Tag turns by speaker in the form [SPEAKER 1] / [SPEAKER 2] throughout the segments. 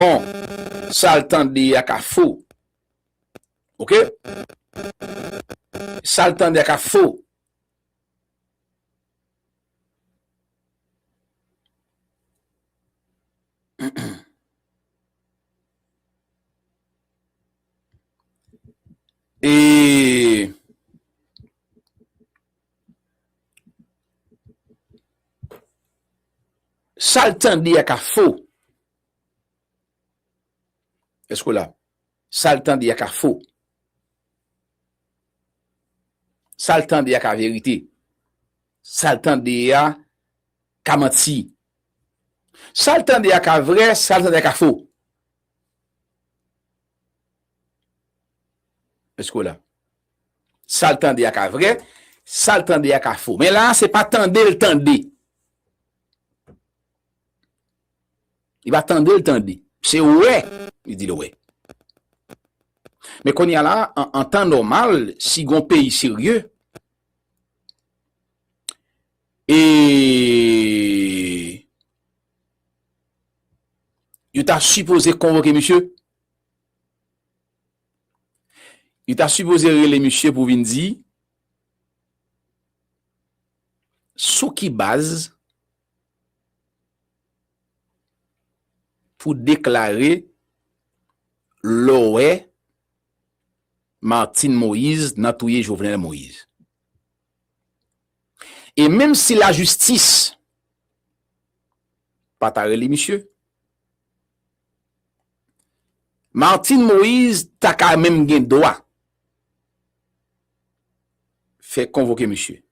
[SPEAKER 1] Bon sal tande a ka fo ok sal tande a ka fo. Eee. Sal tande a ka fo. Eske w la? Sa l tande a ka fo. Sa l tande a ka verite. Sa l tande a ka manti. Sa l tande a ka vre, sa l tande a ka fo. Eske w la? Sa l tande a ka vre, sa l tande a ka fo. Men la a se pa tande l tande. Li pa tande l tande. Se wè li di l wè. Men kounye a la, an tan nòmal, si gon peyi serye, e yo ta sipoze konvoke misye, yo ta sipoze rele misye pou vin di sou ki baz, Pou deklare loè Martine Moise nan touye Jovenel Moise. E menm si lajistis pa ta rele misye, Martine Moise ta ka menm gen dwa fè konvoke misye.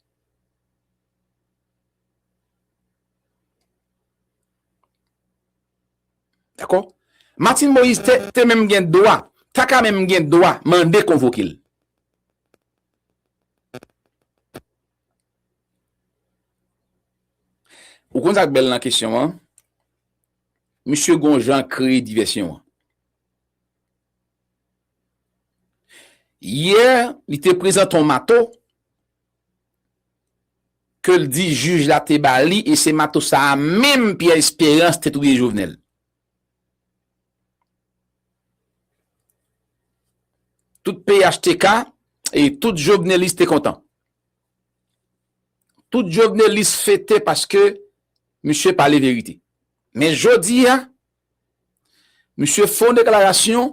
[SPEAKER 1] Dakò? Martine Moïse te te menm gen dwa, ta ka menm gen dwa mande konvoke l. Ou konn sa k bèl nan kesyon an? Misye gon jan l kreye divèsyon an. Yè, li te prezante yon mato ke l di jij la te ba li e se matos sa a menm Pierre Espérance te touye Jovenel. Tout phtk e tout jovenelis te kontan. Tout jovenelis fete paske misye pale verite. Men jodi a, misye fon deklarasyon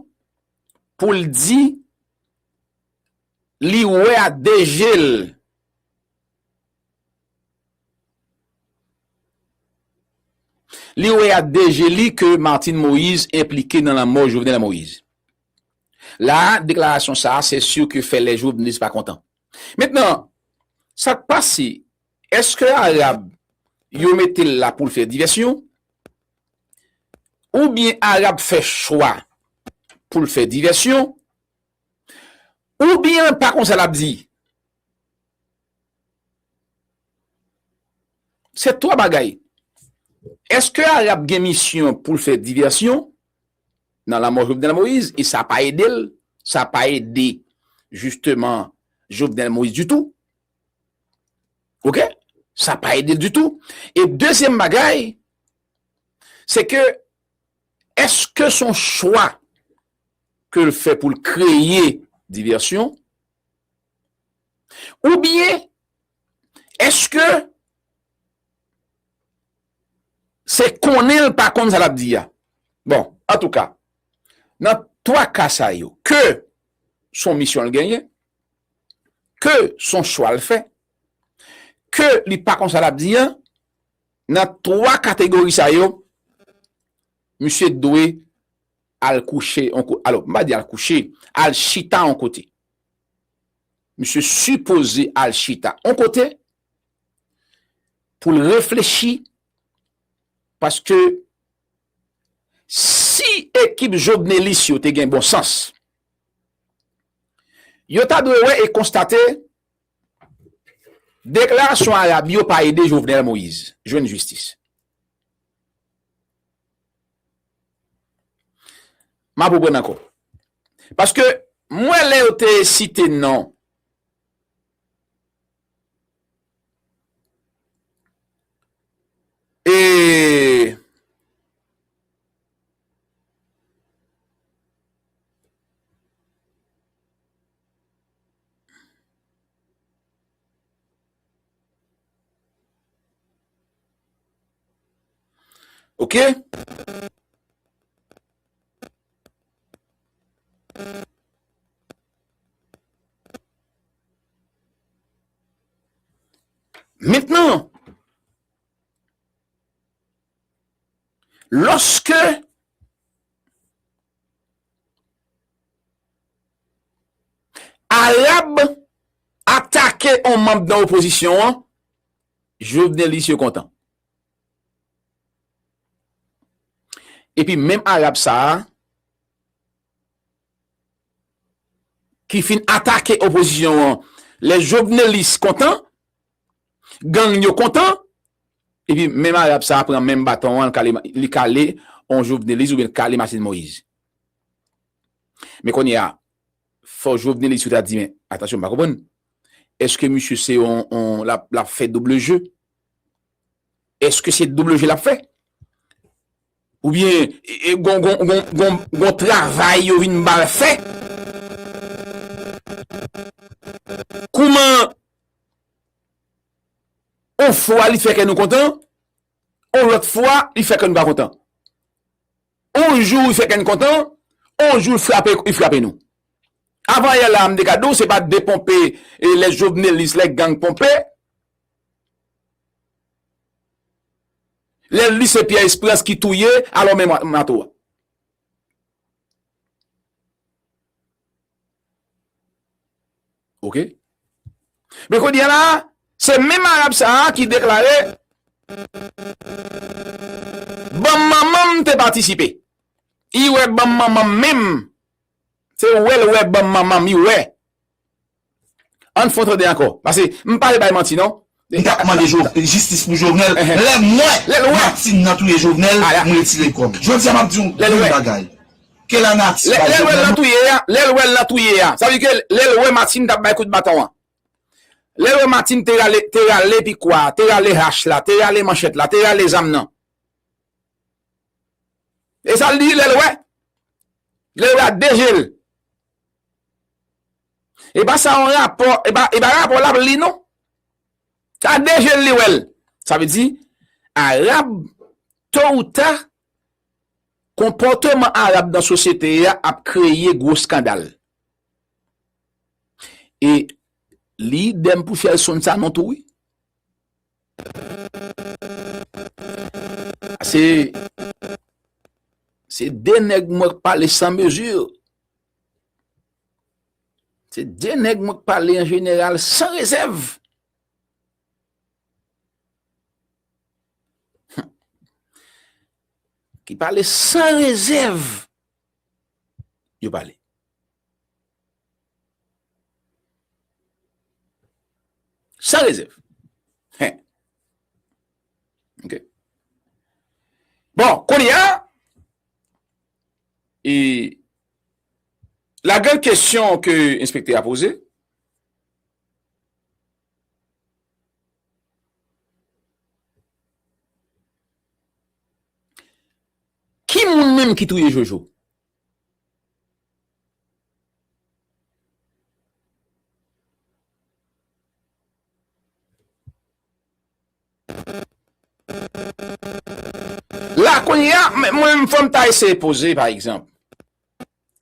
[SPEAKER 1] pou l di Li wè ak de je l. Li wè ak de je li ke Martine Moïse enplike nan lanmò Jovenel Moïse. La a, deklarasyon sa a se sur ke fè lè Jovenelist pa kontan. Mentnan, sa k pase? Eske Arab yo mete l la pou l fè divèsyon? Oubyen Arab fè chwa pou l fè divèsyon? Ou byen pa konsa lap di. Se 3 bagay. Eske Arab gen misyon poul fè divèsyon nan lanmò Jovenel Moïse e sa pa edel, sa pa ede jisteman Jovenel Moïse ditou. Ok? Sa pa edel ditou. E dezyèm bagay, se ke eske son chwa ke l fè pou l kreye divèsyon? Oubyen, èske se konnen l pa konn sa l ap di a? Bon, antouka, nan twa ka sa yo, ke s on misyon l genyen, ke s on chwa l fè, ke li pa konn sa l ap di a, nan twa kategori sa yo, misye dwe. Al kouche on kote, alò m pa di al kouche, al chita on kote. Misye sipoze al chita on kote pou l reflechi paske si ekip jovnelis yo te gen bon sans, yo ta dwe wè e konstate deklarasyon Arab yo pa ede Jovenel Moïse jwenn jistis. Map reprann ankò. Paske m wè lè yo te site non. E. Ok. Mentnan, loske Arab atake yon manb nan opozisyon an, Jovenelis yo kontan. Epi menm Arab sa a ki fin atake opozisyon an lè Jovenelis kontan, gang yo kontan, epi menm Arab sa a pran menm baton an li kale on Jovenelis oubyen li kale Martine Moïse. Men kounye a, Fò jovenelis yo ta di men atansyon m pa konprann eske misye se yon lap fè double jeu eske se double jeu lap fè oubyen gon travay yo vin bal fè kouman on fwa li fè kè nou kontan on lòt fwa li fè kè nou pa kontan. On jou li fè kè n kontan, on jou li frape nou. Avanyè la a m te ka di w se pa deponpe lè jovnelis, lè gang ponpe, lè li se Pyè Esperans ki touye alò men mato a. Ok. Men kou diya la, se menm Arab sa a ki deklare, banm manman m te patisipe. I wè banm manman m menm, se wè l wè banm manman m, i wè. An fon tande ankò. Pase m pa al bay manti non. Li tap mande
[SPEAKER 2] jistis pou jovenel lè mwen martine nan touye jovenel m retire kòm jodia map diw yn bagay ke la nati bay jovenel
[SPEAKER 1] nou Lèl wèl nan touye a sa vle di ke lèl wè martine tap bay kout baton an lèl wè martine te rale te rale pikwa a te rale hach la te rale manchèt la te rale zam nan esal di lèl wè lèl wè ak de jel E pa sa yon rapò, e pa rapò lap li non. Se ak 2 jel li wèl. Sa vle di Arab to ou ta konpòteman Arab nan sosyete a ap kreye gwo skandal. E li idem pou Shelson Sanon tou wi. Se se 2 nèg mwen k pale san mezi. Se de nèg mwen k pale an jeneral san rezèv. Ki pale san rezèv. Yo pale. San rezèv. Bon, koun ya. E... La gran kesyon ke enspektè a poze. Ki moun menm ki touye Jojo? La kounye a, mwen menm fòm ta eseye poze pa egzanp.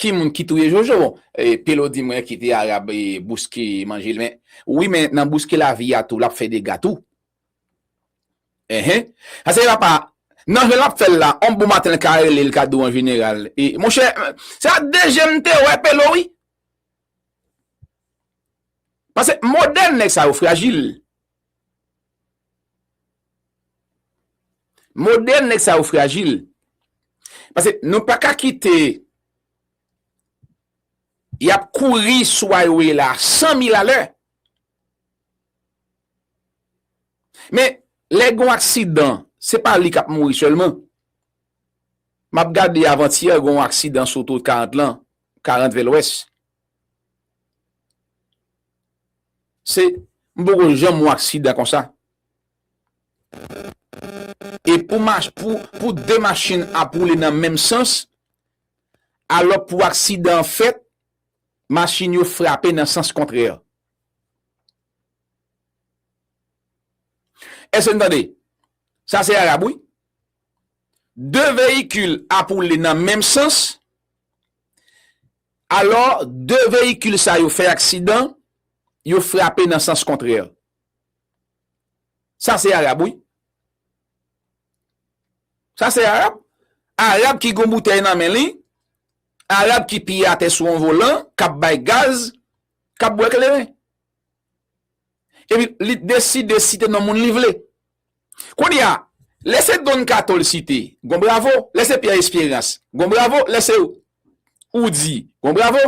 [SPEAKER 1] Ki moun ki touye Jojo? Bon, Pelo di mwen kite Arab bouske manje l men. Wi men nan bouske lavi a tou lap fè dega tou. Enhen. Sa se apa, nan jan lap fè l la, on bon maten l ka rele l ka di w an jeneral, e monchè, se ak de je m te wè Pelo wi. Pase modèn nèg sa yo frajil. Model nèg sa yo frajil. Pase nou pa ka kite y ap kouri sou a yo ye la a san mil alè. Men, lè gen yon aksidan, se pa li k ap mouri sèlman. M ap gade avantyè gen yon aksidan sou otowot 40 lan, 40 vè lwès. Se m poko janm wè aksidan konsa. E pou mach pou pou 2 machin ap woule nan menm sans alò pou aksidan an fèt machin yo frape nan sans kontrè. Èske n tande? Sa se arab wi. 2 veyikil ap woule nan menm sans. Alò, 2 veyikil sa yo fè aksidan, yo frape nan sans kontrè. Sa se Arab wi. Sa se Arab. Arab ki gen yon boutèy nan men li, Arab ki pye atè sou yon volan, k ap bay gaz, k ap bwè kleren. Epi li deside site non moun li vle. Kounye a, lè se Don Kato l site, gon bravo, lè se Pyè Esperans, gon bravo, lè se Oudi, gon bravo,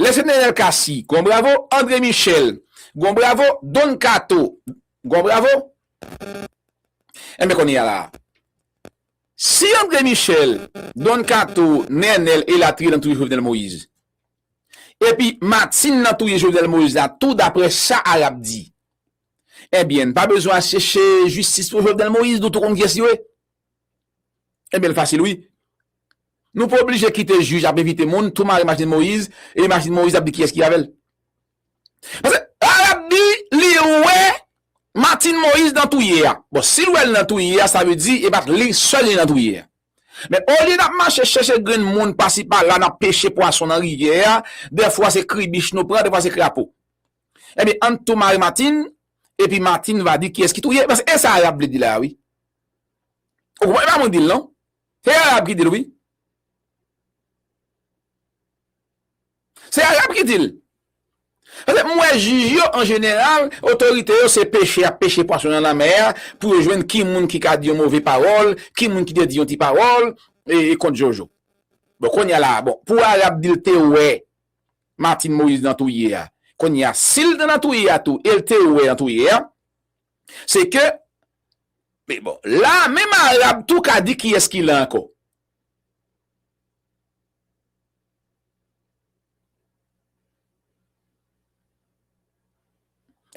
[SPEAKER 1] lè se Nenel Cassy, gon bravo, André Michel, gon bravo, Don Kato, gon bravo. Enben kounye a la a, si André Michel, Don Kato, Nenel elatriye nan touye Jovenel Moïse, epi Martine nan touye Jovenel Moïse la tou daprè sa Arab di, Ebyen n pa bezwen al cheche jistis pou Jovenel Moïse nou tou konn kyès yo ye. Ebyen l fasil wi. Nou pa oblije kite jij ap envite moun tou mare machin Moïse epi machin Moïse ap di kiyès ki avèl. Paske lè lap di li wè Martine Moïse nan touye a. Bon sil wèl nan touye a sa vle di e pat li sèl li nan touye a. Men olye nap mache cheche grenn moun pasi pala nap peche pwason nan rivyè a dèfwa se kribich nou pran dèfwa se krapo. Ebyen ann tou mare Martine epi Martine va di kiyès ki touye paske e sa Arab vle di la a wi. Ou konprann e pa mwen ki di l non. Se Arab ki di l wi. Se Arab ki di l. Paske m wè jij yo an jeneral, otorite yo se peche y ap peche pwason nan lanmè a pou yo jwenn ki moun ki ka di yon move pawòl, ki moun ki te di yon ti pawòl e kont Jojo. Bon kounya la a bon pou Arab di l te wè. Martine Moise nan touye a kounye a sil t nan touye a tou el te wè an touye a se ke me bon la menm arab tou ka di kiyes ki la anko.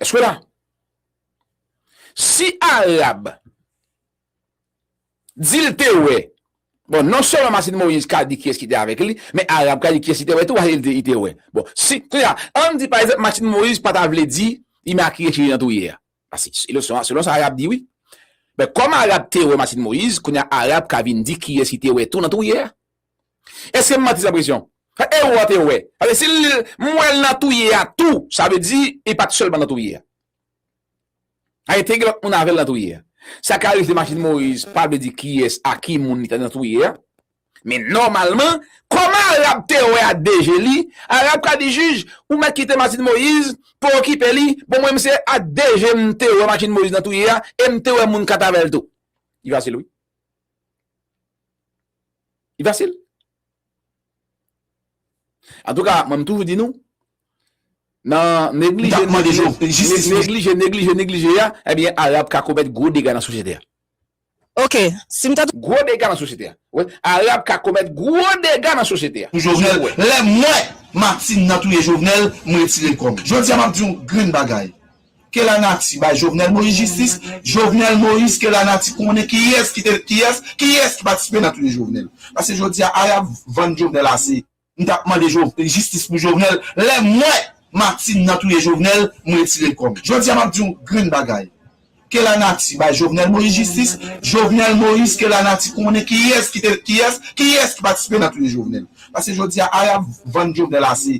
[SPEAKER 1] Eske la? Si arab. Di l te wè. Bon, non sèlman Martine Moïse ka di kiyès ki te avèk li, men Arab ka di kiyès li te wè tou paske li di li te wè. Bon, si, kounye a, an n di pa egzanp Martine Moïse pa ta vle di Imakiye chire nan twouye a. Paske se selon sa, selon sa Arab di wi. Men kòm Arab te wè Martine Moïse, kounye a Arab ka vin di kiyès li te wè tou nan twouye a. Èske m manti san presyon? Sa Ero a te wè. Paske si l di l, m wè l nan twouye a tou, sa vle di li pa t sèlman nan twouye a. Ayi te gen lòt moun avèl nan touye a. Sa ka rive machin Moise pa vle di kiyès a ki moun li ta nan touye a. Men nòmalman, kòman Arab te wè a de je li, Arab ka di jij, ou mèt kite machin Moise pou okipe li, bon mwen m se a de je m te wè machin Moise nan touye a e m te wè moun katavèl tou. Li fasil wi. Li fasil. Antouka, mwen m toujou di nou, nan neglije, neglije, neglije, neglije a, ebyen Arab ka komèt gwo dega nan sosyete a. Ok,
[SPEAKER 3] si m ta. Gwo dega nan sosyete a.
[SPEAKER 1] Wè, Arab ka komèt gwo dega nan sosyete a. Pou Jovenel, lè m
[SPEAKER 2] wè Martine nan touye Jovenel, m retire l kò m. Jodi a m ap di yon grenn bagay, Ke la nati bay Jovenel Moïse jistis Jovenel Moïse ke la nati konnen kiyès ki te kiyès kiyès ki patisipe nan touye Jovenel paske jodi a a yap vann Jovenel ase m tap mande Jovenel jistis pou Jovenel lè m wè Martine nan touye Jovenel m retire kò m jodi a map di w grenn bagay ke la nati bay Jovenel Moïse jistis Jovenel Moïse ke la nati konnen kiyès ki te kiyès kiyès ki patisipe nan touye Jovenel paske jodi a a yap vann Jovenel ase.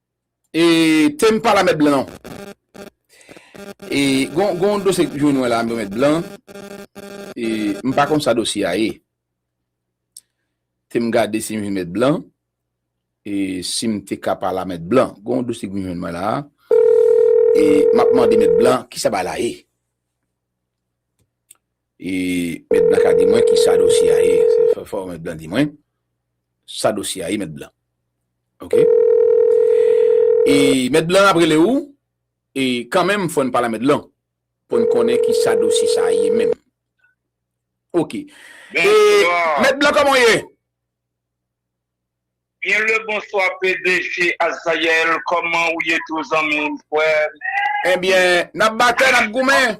[SPEAKER 1] E tem pa la met blan non. E gon yon dosye k jwenn mwen la yo met blan. E m pa konn sa dosye a ye. Tem gade si m vin met blan. E si m te ka pa la met blan. Gon yon dosye k vin jwenn mwen la. E m ap mande met blan ki sa bagay la ye. E mèt blan ka di mwen ki sa dosye a ye? Se fò mèt blan di mwen sa dosye a ye mèt blan. Ok. E mèt blan ap rele ou e kan menm fò n pale a mèt blan pou n konnen ki sa dosye sa ye menm. Ok. E mèt blan kòman w ye?
[SPEAKER 4] Byen le bonswa pdg Azayael kòman ou ye tou zanmi m, frè m? Ebyen
[SPEAKER 1] n ap batè n ap goumen.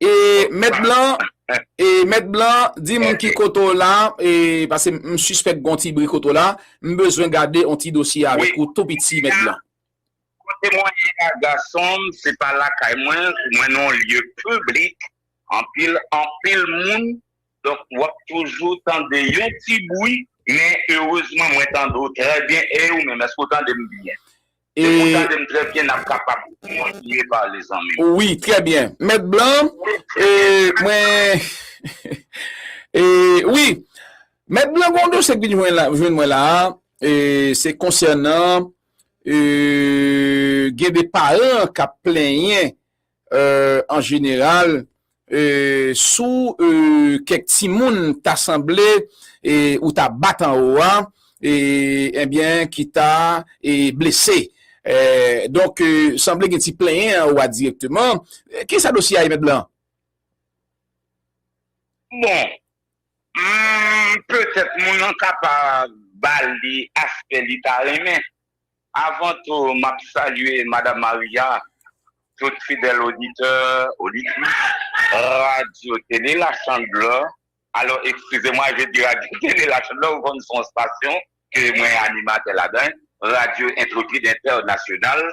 [SPEAKER 1] E mèt blan, e mèt blan, di m ki kote w la, e pase m sispèk gon ti bri kote w la, m bezwen gade on ti dosye avèk ou tou piti mèt blan. Kote mwen
[SPEAKER 4] ye a gason m, se pa lakay mwen, mwen nan on lye piblik, anpil, anpil moun, donk w ap toujou tande yon ti bwi, men erezman mwen tande w trè byen, e ou menm èske w tande m byen? E ou tandem trè byen nap kapab kontinye pale zanmim. Wi trè byen
[SPEAKER 1] mèt blan e mwen e wi mèt blan gon dosye k vin jwenn mwen la e se konsènan e gen de paran kap plenyen An jeneral, sou kèk timoun ta sanble ou ta bat anwo a, enbyen ki ta blese. Donk, sanble gen ti plenyen anwo a dirèkteman. Ki sa dosye a ye, Mèt Blan?
[SPEAKER 4] Bon, petèt moun lan ka pa ba li aspè li ta renmen. Avan tou m ap salye Madam Maria, tout fidèl oditè, oditris Radyo Tele La Chandeleur, alò ekskize mwa je di Radyo Tele La Chandeleur ou konn se yon stasyon ke mwen animatè ladan, Radyo Intrepid Entènasyonal,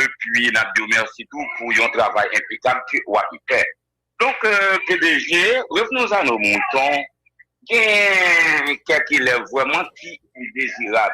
[SPEAKER 4] epi n ap di w mèsi tou pou yon travay enpekab ke w ape fè. Donk pdg, revenons à nos moutons, gen kèk elèv vrèman ki dezirab,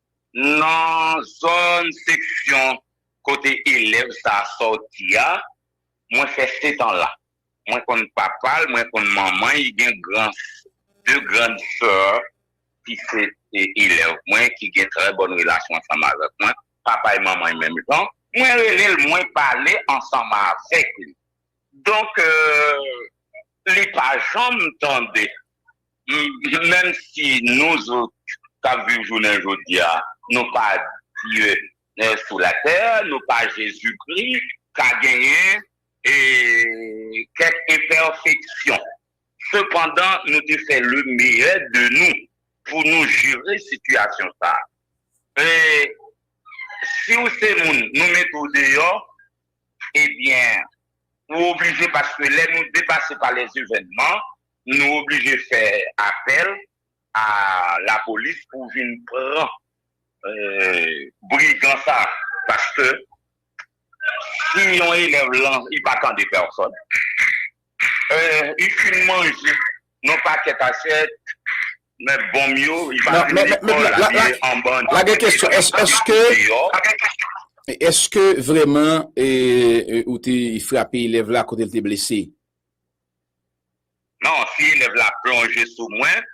[SPEAKER 4] Nan zòn seksyon kote elèv sa a sòti a, mwen fè setan la. Mwen konn papa l, mwen konn manman l, li gen gran, de grand soeur ki se elèv mwen, ki gen trè bòn relasyon ansanm avèk mwen, papa e manman yo menm jan. Mwen rele l, mwen pale ansanm avèk li. Donk, li pa janm tande Menm si nou zot k ap viv jounen jodi a, nou pa Dye sou latè, nou pa Jezikri, ka genyen kèk enpèfeksyon. Sepandan, nou te fè lemeyè de nou pou nou jere sitiyasyon sa a. E si w se moun, nou mete w deyò, ebyen, ou oblije paske lè nou depase pa lèzevènman, Nou oblije fè apèl a lapolis pou vin pran brigan sa paske si yon elèv lan li pa tande pèsòn li fin manje yon pakèt asyèt men bonm yo li pa vin lekòl la li anba an dan pèsòn ap
[SPEAKER 1] mache deyò. Eske vreman ou te frape elèv la kote li te blese?
[SPEAKER 4] Non, si elèv la plonje sou mwen,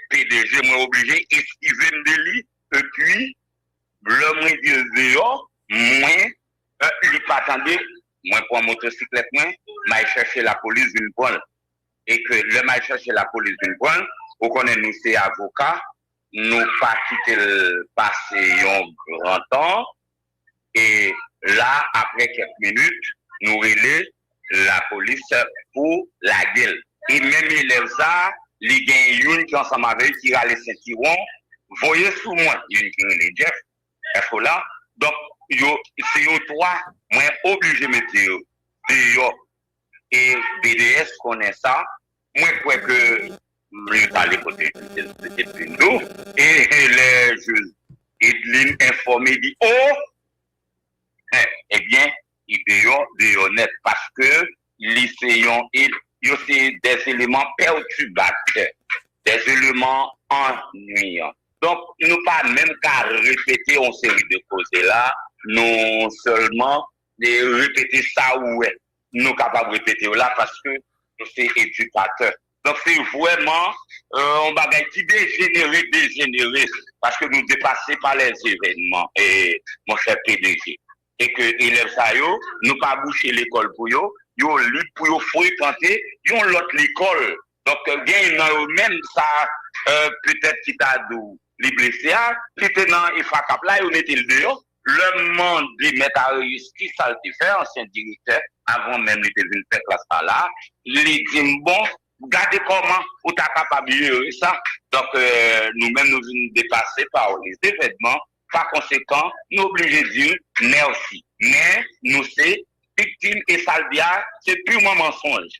[SPEAKER 4] pdg mwen oblije eskive m de li. Epi, lè mwen di l deyò, mwen. Li pa tande, mwen pran motosiklèt mwen, m al chèche lapolis vin pran l. E ke lè m al chèche lapolis vin pran l, ou konnen nou se avoka, nou pa kite l pase yon gran tan. e la aprè kèk minit nou rele lapolis pou lage l e menm elèv sa li gen youn ki ansanm avè li ki rale sentiwon voye sou mwen youn ki rele Jeff èske w la donk yo se yo 3 mwen oblije mete yo deyò e BDS konnen sa Mwen kwè ke mye pale kote Edlin do e lè Edlin enfòme di oh eh ebyen li deyò deyò nèt paske li se yon yo se de eleman pètibatè de eleman annuyan donk nou pa menm ka repete yon seri de koze la nou sèlman repete sa ou wè Nou kapab repete yo la paske nou se edikatè. Donk se vrèman yon bagay ki dejenere, dejenere paske nou depase pa lèzevènman monchè PDG. E ke elèv sa yo, nou pa bouche lekòl pou yo, yo lib pou yo frekante yon lòt lekòl. Donk gen nan yo menm sa petèt ki ta di w li blese a, ki te nan Efrakap la, yo mete l deyò. Lè m mande Mèt Aréus ki sa l te fè, ansyen direktè, avan menm li te vin fè klas sa la, li di m, Bon, gade kòman ou ta kapab jere sa. Donk, nou menm nou vin depase pa lezevènman, pakonsekan, nou oblije di l mèsi. Men, nou se viktim e sa l di a se pirman mansonj.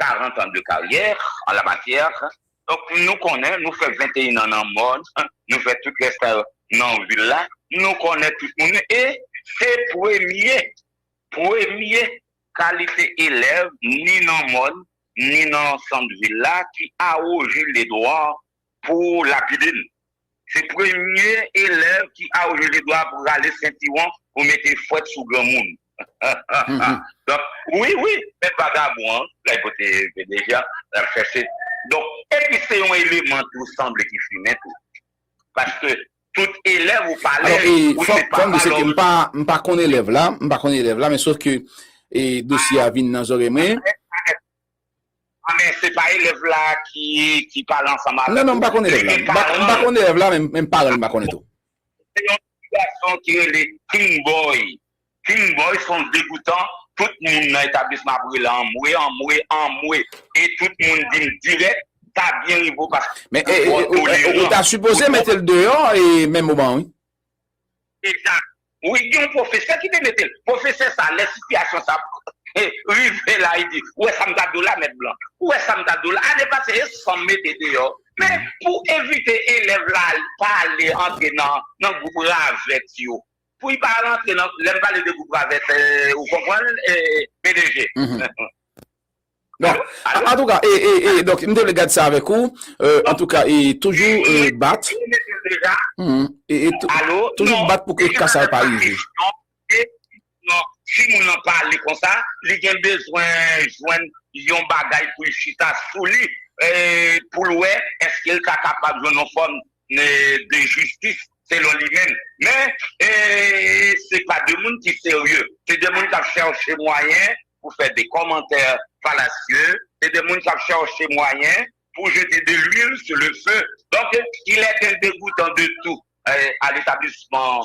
[SPEAKER 4] 40 ans de carrière en la matière donc nou konnen nou fè 21 ans nan mòn nou fè tout lè sa yo nan vil la nou konnen tout moun e se premye premye kalite elèv ni nan mòn ni nan sant vil la ki awoje le dwa pou lapide n. Se premye elèv ki auje li dwa pou rale sentiwon pou mete fwèt sou granmoun. Donk, wi, wi, menm vagabon an, lè kote pdg an, l ap chèche. Donk, epi se yon eleman tou sanble ki fimen tou. Paske tout elèv ou pale, ou se pa pa lò. Alò, fòk m di
[SPEAKER 1] se ke m pa konn elèv la, m pa konn elèv la, men sof ke dosye a vin nan zòrèy mwen. A
[SPEAKER 4] men se pa elèv la ki pale ansanm avèk ou. Non non m pa konn elèv
[SPEAKER 1] la. M pa konn elèv la men paran l m pa konnen tou. Se yon ti
[SPEAKER 4] gason ki rele King Boy. King Boy se yon degoutan. Tout moun nan etablisman ap rele l anmwe, anmwe, anmwe. E tout moun di m dirèk sa byen rive w paske ou twò toleran.
[SPEAKER 1] Men ou ta sipoze mete l deyò menm moman an wi. Exact
[SPEAKER 4] wi gen yon profesè ki te metel profesè sa lè sitiyasyon sa rive la li di ou wè sa m ta do la mèt blan ou wè sa m ta do la ane pase e san m mete deyò men pou evite elèv la pa ale antre nan gwoup ravèt yo pou li pa al antre nan lè m pale de gwoup ravèt ou konprann PDG.
[SPEAKER 1] Bon, antouka, e, e, e, donk, m te vle gad sa avèk ou, e, antouka, e, toujou, e, bat, humm, e, e, toujou bat pou ke ka sa yo pa rive.
[SPEAKER 4] Si moun nan pale konsa, li gen bezwen jwenn yon bagay pou l chita sou li, e, pou l wè, èske l ta kapab jwenn yon fòm de jistis selon li menm. Men, se pa de moun ki serye. Se de moun k ap chèche mwayen pou fè de kòmantè falasye. Se de moun k ap chèche mwayen pou jete de lwil sou le fe. Donk, il est indegoutant de tout à l'établissement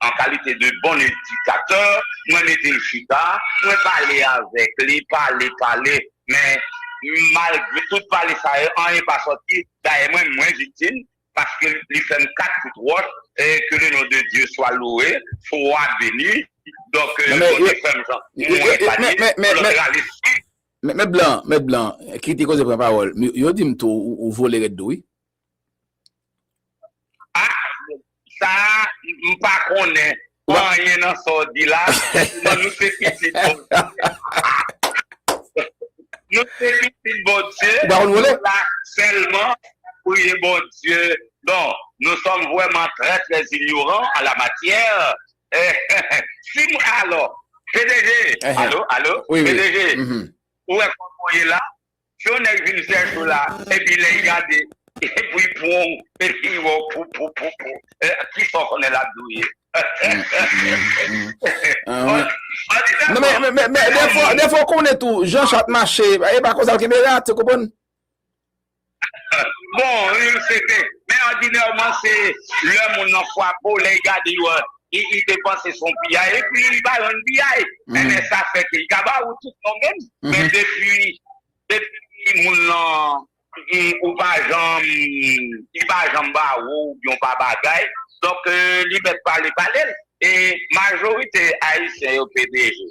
[SPEAKER 4] An kalite de bon edikatè, mwen mete l chita, mwen pale avèk li, pale, pale, men, malgre tout pale sa yo, anyen pa sòti. Dayè, mwen mwen viktim, paske li fè m kat kout wòch, e ke le non de Dye swa louwe, swa beni. Donk, bon Dye fè m jan mwen epanye, pou lòt
[SPEAKER 1] rale sik. Mèt Blan, mèt Blan, kite koze pran pawòl. Yo di m tou ou vole rèd tou wi.
[SPEAKER 4] Sa a m pa konnen anyen nan sa w di la. Selman nou se pitit Bondye. Nou se pitit Bondye. Ou pa konn vole? Nou la sèlman pou ye Bondye. Bon, nou sòm vrèman trè trè inyoran an la matyè. Si m alò, PDG, allo, allo, PDG, ou wè
[SPEAKER 1] kòman w
[SPEAKER 4] ye la? Si yon nèg vin chèche w la epi lè li gade pou li pran w epi li wè w pou pou pou pou kisa w konnen lap di w ye?
[SPEAKER 1] Men defwa w konnen tou jan chat mache e pa konsa l kenbe rat ou konprann?
[SPEAKER 4] Bon, se vre men òdinèman se lè moun nan fwape w lè li gade w Li te panse son piyay epi li ba yon piyay men lè sa fè ke li ka ba ou tout non menm men depi depi moun lan di ou pa janm li pa janm ba ou oubyen ou pa bagay donk li mèt pale pale l e majorite ayisyen yo pdg.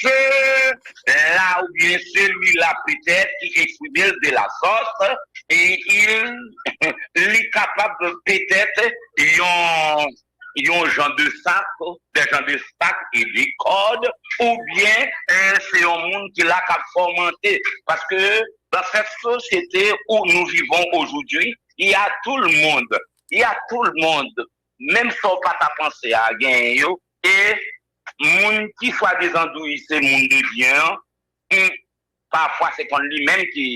[SPEAKER 4] Se la oubyen selila petèt ki eksprime l de la sòt e il li kapab petèt yon jan de sak, des gens de sac et de corde oubyen se yon moun ki la k ap fòmante paske dans cette société où nous vivons aujourd'hui il y a tout le monde, il y a tout le monde menm sa w pa ta panse a genyen yo e Moun ki swadizan di w li se moun de byen an, hum pafwa se konn li menm ki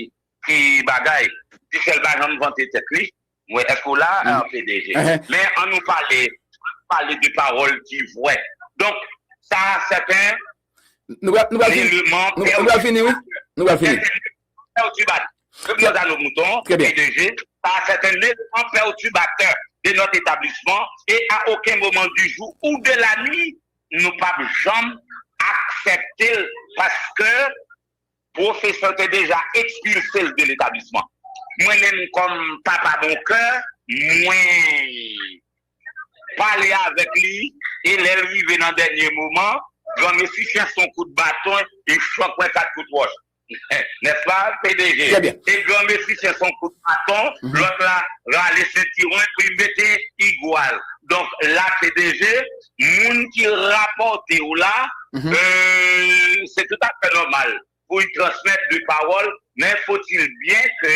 [SPEAKER 4] ki bagay. Dyssèl pa janm vante tèt li. Mwen èske w la a pdg? Men an nou pale pale de pawòl ki vrè. Donk sa a sèten
[SPEAKER 1] eleman Nou pral fini wi Nou pral fini perturbateur. Yo gen zalo
[SPEAKER 4] mouton, Très bien. de je, par certaines maisons, un perturbateur de notre établissement et à aucun moment du jour ou de la nuit nou pap janm aksèpte l paske pwofesè te deja ekspilse l de letablisman. Mwen menm kòm papa bon kè, mwen pale avèk li e lè l rive nan dènye moman, granmesi fè s on kout baton, yon chòk wè kat kout wòch. N'est-ce pas pdg? Très bien. E gran mesi
[SPEAKER 1] se son
[SPEAKER 4] kout baton lot la rale sentiron e pou li mete igual. Donk la pdg moun ki raporte ou la se tout afè normal pou li transmèt li pawol men faut il bien ke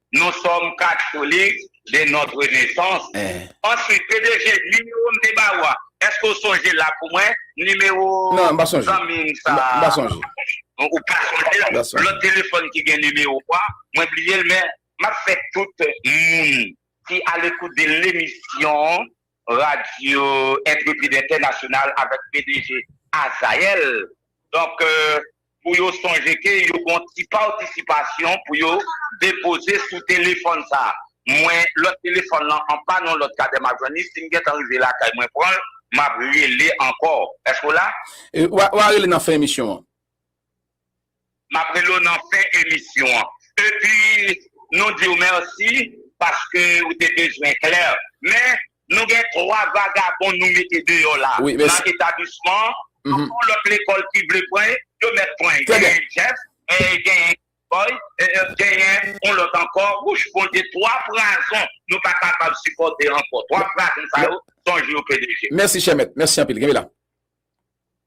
[SPEAKER 4] Nous sommes catholiques de notre naissance. Answit pdg nimewo m te ba ou a eske ou sonje l la pou mwen nimewo zanmi
[SPEAKER 1] m sa ou pa
[SPEAKER 4] sonje l lòt telefòn ki gen nimewo ou a mwen bliye l men map fè tout moun ki alekoute de lemisyon Radyo Entrepid Entènasyonal avèk pdg Azael donk pou yo sonje ke yo gon ti patisipasyon pou yo depoze sou telefòn sa mwen lòt telefòn lan anpann yon lòt kadè map jwenn li sim gentan rive lakay mwen pranl map rele ankò èske w la? Wa rele nan
[SPEAKER 1] fen emisyon an.
[SPEAKER 4] Map rele w nan fen emisyon an. Epi nou di w mèsi paske ou te bezwen klè. Men nou gen 3 vagabon nou mete deyò la nan etablisman an. Tout lòt lekòl ki vle pran yo mèt pran. Genyen Jeff, genyen Kibòy, genyen yon lòt ankò. Wouch Bondye 3 prazon nou pa kapab sipòte ankò. 3 prazon sa yo sonje yo pdg. Mèsi chè mèt. Mèsi anpil.
[SPEAKER 1] Kenbe la.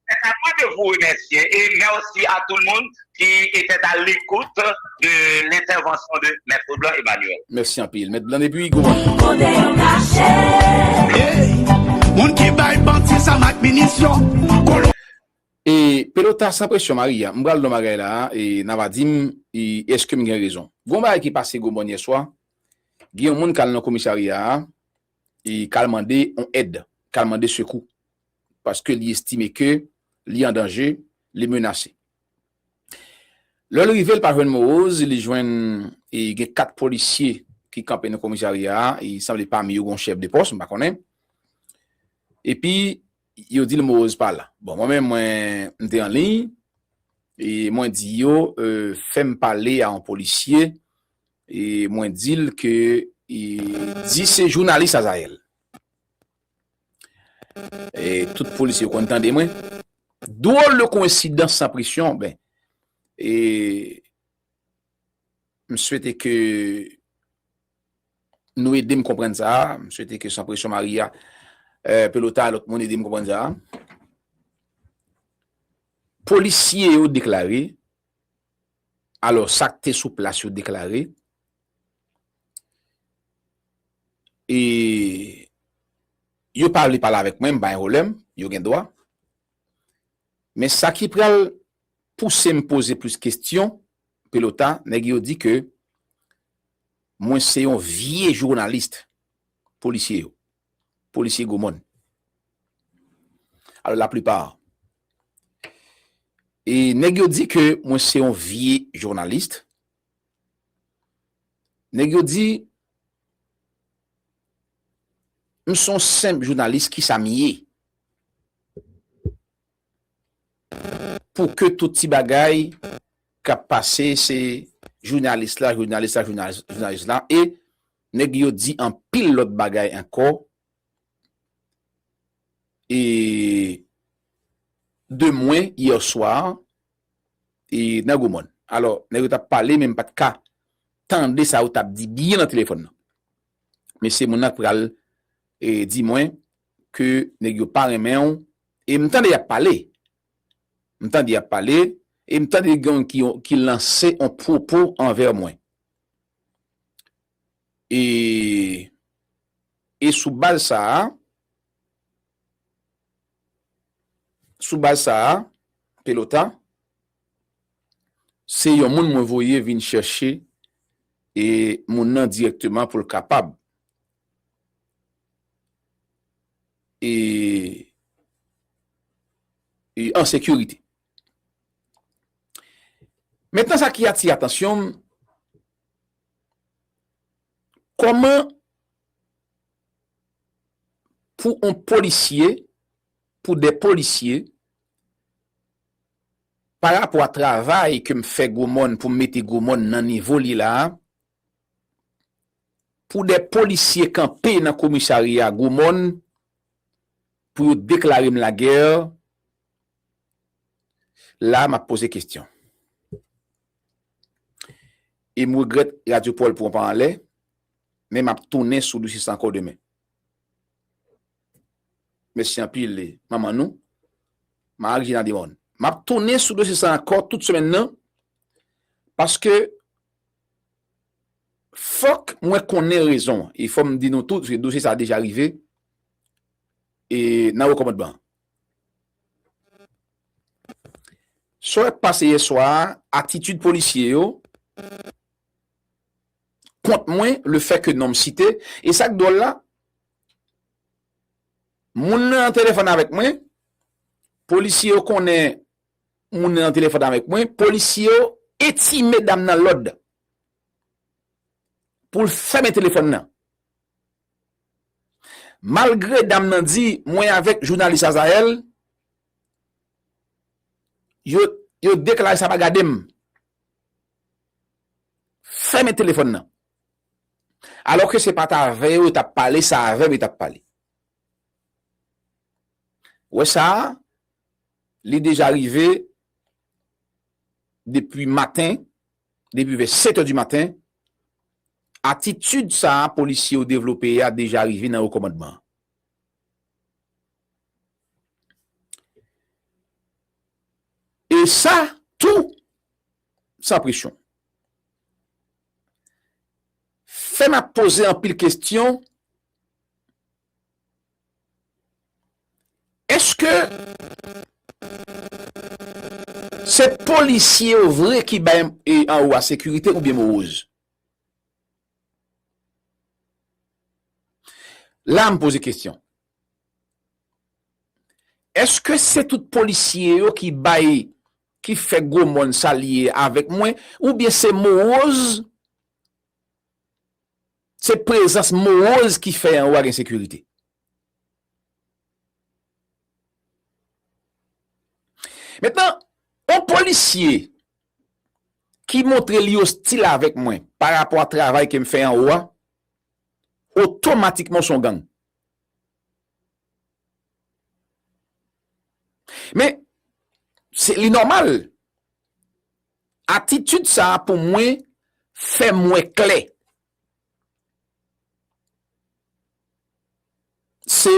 [SPEAKER 1] Se sa
[SPEAKER 4] mwen de vou remèsye e mèsi a tou moun ki etèt a lekout de lentèvansyon de Mèt Leblanc Emmanuel. Mèsi anpil Mèt Blanc
[SPEAKER 1] depi Gonayiv. King Kode yo kache.
[SPEAKER 5] Hey!
[SPEAKER 6] Moun ki bay bandi zam ak minisyon, kolon.
[SPEAKER 1] E pelota san presyon Maria m pral don bagay la a e na va dim e eske m gen rezon. Gon bagay ki pase gomòn yèswa gen yon moun kal nan komisarya a e kal mande on èd kal mande sekou. paske li estime ke li an danje, li menase. Lè l rive, l pa jwenn Moroz, li jwenn gen 4 polisye ki kanpe nan komisarya a, e sanble pami yo gen yon chèf de pòs, m pa konnen. Epi, yo di l Moroz pa la. Bon, mwen menm, mwen, m te an liy, e mwen di yo, fè m pale a yon polisye, e mwen di l ke, di se jounalis Azayèl. E tout polis yo konn tande mwen. Dwol de koensidans san presyon, ben, e, m swete ke nou ede m konprann sa a, m swete ke san presyon Maria, Pelota, lòt moun ede m konprann sa a. Polisye yo deklare, Alò sa k te sou plas yo deklare e yo pa vle pale avèk mwen, m pa gen pwoblèm, yo gen dwa. Men sa ki pral pouse m poze plis kesyon, Pelota, nèg yo di ke mwen se yon vye journaliste, polisye yo. polisye gwo mòn. Alò la plipa e nèg yo di ke mwen se yon vye journalist. Nèg yo di m se yon senp journalist ki sa m ye? Pou ke tout ti bagay kap pase se journalist la, journalist la, journalist la e Nèg yo di anpil lòt bagay ankò e de mwen yè swa e nan Gwo Mòn. Alò, nèg yo t ap pale men m pa t ka tande sa yo t ap di byen nan telefòn nan. Men se moun nan k pral di mwen ke nèg yo pa renmen w e m tande y ap pale. M tande y ap pale e m tande gen yon ki lanse yon pwopo anvè mwen. E e sou baz sa a, sou baz sa a, Pelota, se yon moun mwen voye vin chèche e moun nan dirèkteman pou l kapab e e an sekirite. Mentnan sa ki atire atansyon m, kòman pou on polisye, pou de polisye, pa rapò a travay ke m fè Gwo Mòn pou m mete Gwo Mòn nan nivo li la a, pou de polisye kanpe nan komisarya Gwo Mòn pou yo deklare m lagè, La map poze kestyon. E m regrèt Radio Paul pran pa anlè, men map tounen sou dosye sa ankò demen. Mèsi anpil manman nou, Marie Gina Demorne. Map tounen sou dosye sa ankò tout semèn nan, paske fòk mwen konnen rezon an. E fò m di nou tou, dosye sa deja rive e nan rekomandman an. Sa ki pase yè swa a, atitid polisye yo kont mwen, lefè ke non m site, e sa k dwòl la, moun nan an telefòn avèk mwen, polisye yo konnen moun nan an telefòn avèk mwen, polisye yo entime dam nan lòd pou l fèmen telefòn nan. Malgre dam nan di mwen avèk jounalis Azael yo deklare sa pa gadem fèmen telefòn nan alò ke se pat avè yo yo tap pale se avèm yo tap pale wè sa li deja rive depi maten depi vè 7 è di maten, atitid sa a polisye yo devlope a deja rive nan wo kòmandman an. E sa tou san presyon. Fè m ap poze anpil kestyon. Eske se polisye yo vre ki bay anwo a sekirite oubyen moroz? La m poze kesyon. Eske se tout polisye yo ki bay, ki fè gwo mòn sa li ye avèk mwen, oubyen se moroz? Se prezans moroz ki fè anwo a gen sekirite. Mentnan, yon polisye ki montre li ostil avèk mwen pa rapò a travay ke m fè anwo a, otomatikman se yon gang. Men, se li nòmal. Atitid sa a pou mwen fè m wè klè se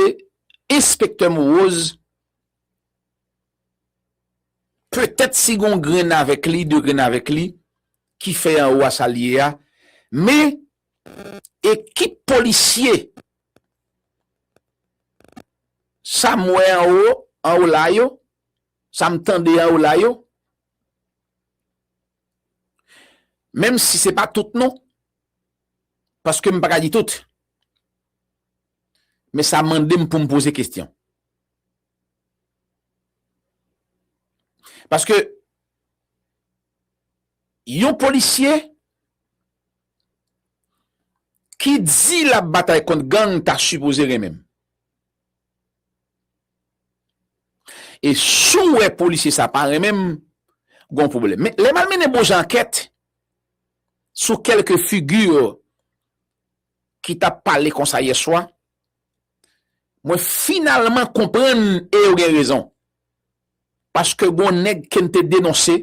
[SPEAKER 1] enspektè Moroz petèt si gon grenn avèk li, de grenn avèk li ki fè anwo a sa l ye a men ekip polisye sa m wè anwo anwo la yo, sa m tande anwo la yo. Menm si se pa tout non, paske m pa ka li tout. Men sa mande m pou m poze kestyon. Paske, yon polisye ki di l ap batay kont gang ta sipoze renmen m. E si w wè polisye sa pa renmen m, gon pwoblèm. Men, lè m al mennen bonjan ankèt sou kèlke figi ki t ap pale konsa yèswa, mwen finalman konprann e yo gen rezon. Paske gon nèg ke n te denonse,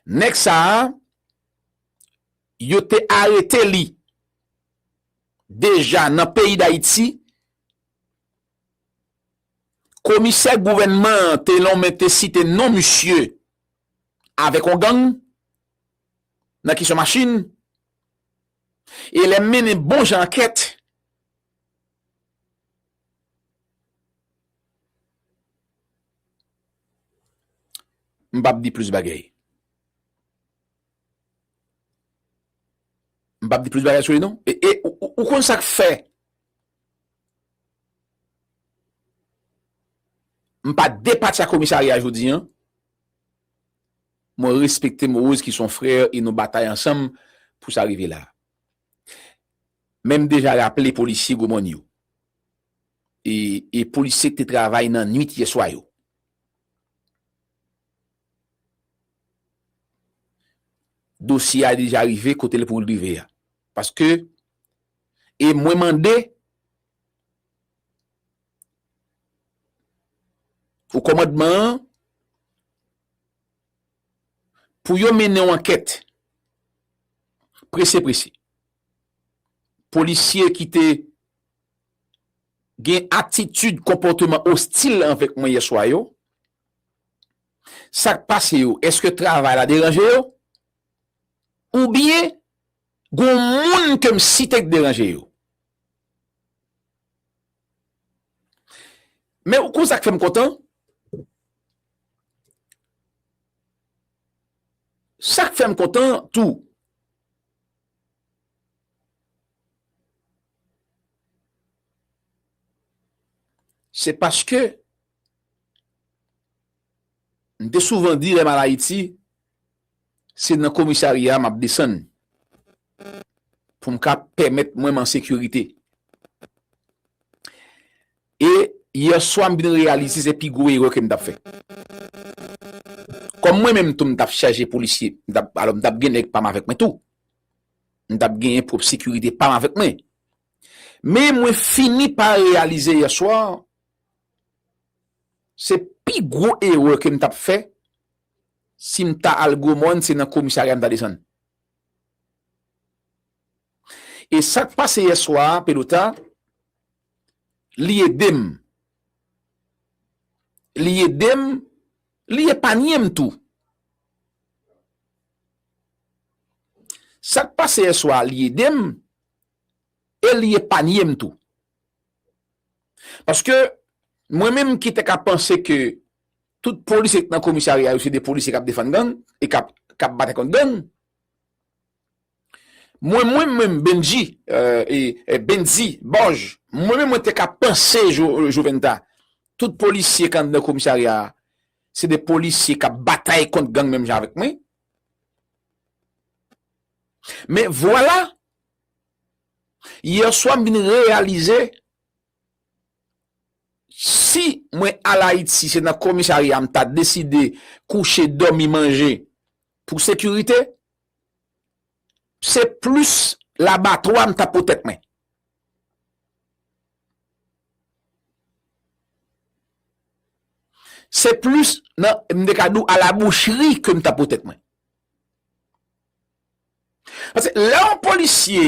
[SPEAKER 1] nèg sa a, yo te arete li Deja nan peyi Dayiti, komisè gouvènman an te lonmen te site non misye avèk yon gang nan kesyon machin e lè mennen bon jan ankèt, m p ap di plis bagay. M pap di plis bagay sou li non. E ou konn sa k fè m pa depatcha komisarya a jodi an? Mwen respekte Moroz ki son frè e nou batay ansanm pou sa rive la. Men m deja raple polisye Gwo Mòn yo e polisye k te travay nan nuit yè swa yo. Dosye a deja rive kote l pou l rive a. Paske, e mwen mande, o kòmandman an, pou yo mennen yon ankèt, prese prese. Polisye ki te gen atitid konpòteman ostil avèk mwen yèswa yo, Sak pase yo? Eske travay la deranje yo? Ou byen gon moun ke m site k deranje yo? Men ou kon sak fè m kontan? Sak fè m kontan tou? Se paske M te souvan di lè m al Ayiti, se nan komisarya m ap desann pou m ka pèmèt mwen m an sekirite. E yèswa m vin reyalize se pi gwo erè ke m t ap fè. Kòm mwen menm tou m t ap chaje polisye, alò m t ap gen nèg pa m avèk mwen tou. M t ap genyen pwòp sekirite pa m avèk mwen. Men mwen fini pa reyalize yèswa Se pi gwo erè kem tap fè sim ta al gwo mòn se nan komisarya m ta desann. E sak pase yè swa pelota li edem li edem li epanyem tou. Sak pase yè swa li edem e li epanyem tou. Paske mwen menm ki te ka panse ke tout polisye ki nan komisarya yo se de polisye k ap defann gang e k ap batay kont gang, mwen mwen menm Bendji, Bendzi, Bòj, mwen menm mwen te ka panse Joventa tout polisye k anndan komisarya a se de polisye k ap batay kont gang menm jan avèk mwen. Men vwala! Yè swa m vin reyalize si mwen al Ayiti se nan komisarya m ta deside kouche, dòmi, manje pou sekirite, se plis labatwa m ta pwotèt mwen. Se plis nan m te ka di w a la boucheri ke m ta pwotèt mwen. Paske lè yon polisye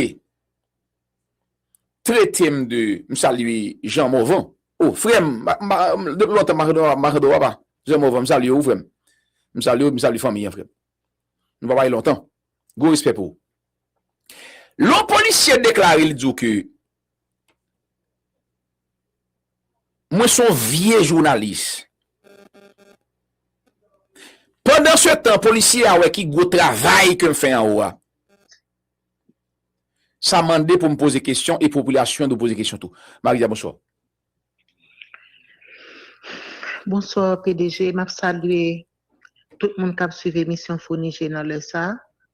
[SPEAKER 1] trete m de, m salye Jean Morvan, o frè m, depi lontan Makedò a pa, Jean Morvan m salye ou frè m, m salye ou, m salye fanmi an frè m, nou pa pale lontan, gwo respè pou ou. Lè yon polisye deklare li di w ke Mwen son vye jounalis. Pandan se tan polisye a wè ki gwo travay kem fè anwo a. Sa mande poum poze kesyon e popilasyon dwe poze kesyon tou. Maria bonswa.
[SPEAKER 7] Bonswa pdg map salye tout moun kap swiv emisyon founi je nan lè sa.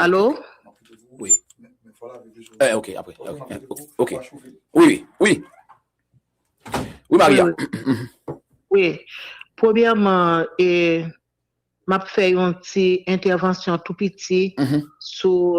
[SPEAKER 7] Alo?
[SPEAKER 1] Wi. Eh, ok, apre. Ok. Wi, wi, wi. Wi, Maria.
[SPEAKER 7] Wi. Premyèman, e, m ap fè yon ti entèvansyon tou piti sou...